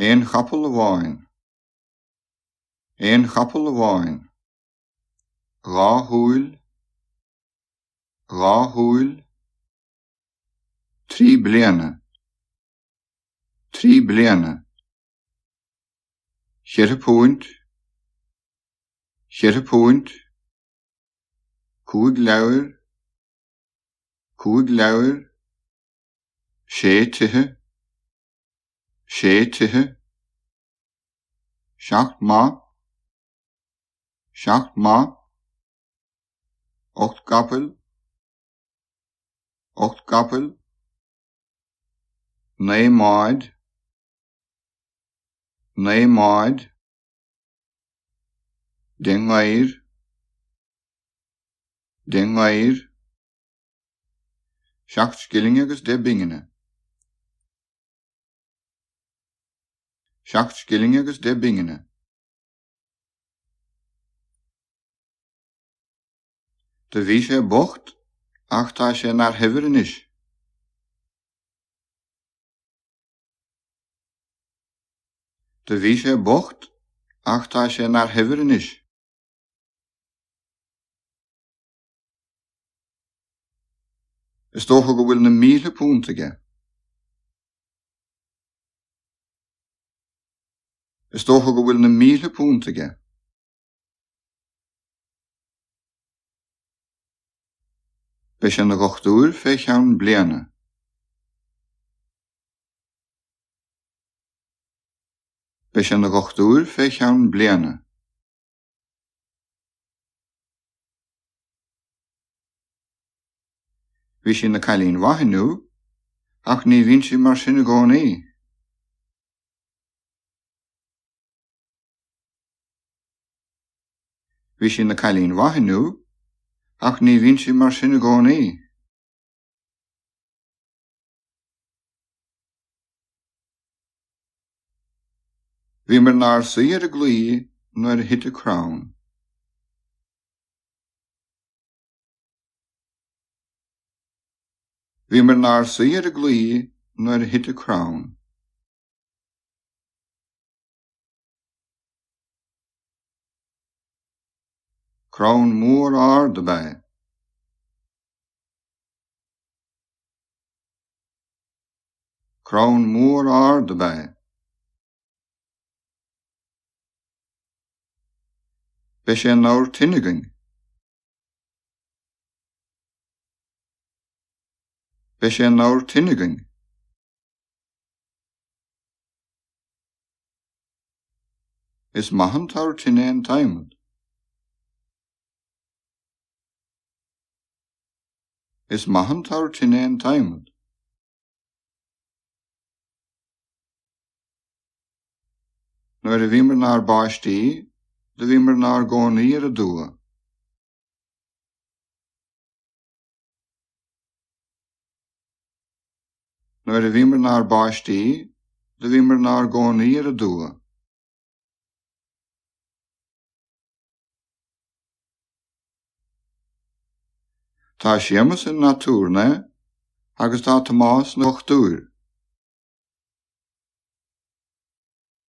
Aon chapall amháin. Aon chapall amháin. Dhá shúil. Dhá shúil. Trí bliana. Trí bliana. Cheithre púint. Cheithre púint. Cúig leabhair. cúig leabhair, sé tithe, sé tithe, seacht mba, seacht mba, ocht gcapaill, ocht gcapaill, naoi mbáid, naoi mbáid, Deich ngabhair Deich ngabhair Seacht scilling agus deich bpingine Seacht scilling agus deich bpingine Do bhí sé bocht ach tá sé ina fhear shaibhir anois. Do bhí sé bocht ach tá sé ina fhear shaibhir anois. Is dócha go bhfuil na míle púnt aige. Is dócha go bhfuil na míle púnt aige. Beidh sé ina dhochtúir fé cheann bliana. Beidh sé ina dhochtúir fé cheann bliana. Bhí sí ina cailín mhaith inniu, ach ní bhíonn sí mar sin i gcónaí. Bhí sí ina cailín mhaith inniu ach ní bhíonn sí mar sin i gcónaí. Bhíomar inár suí ar an gclaí nuair a thit an crann. Bhíomar inár suí ar an gclaí nuair a thit an crann. Crann mór ard ab ea é. Crann mór ard ab ea é. Beidh sé ina abhar tine againn. Beidh sé ina abhar tine againn. Is maith an t-abhar tine an t-adhmad. Is maith an t-abhar tine an t-adhmad. Nuair a bhíomar inár bpáistí, do bhíomar inár gcónaí ar an dtuath. Nuair a bhíomar 'nár bpáistí, do bhíomar 'nár gcónaí ar an dtuath. Tá Séamus ina aturnae agus tá Tomás ina dhochtúir.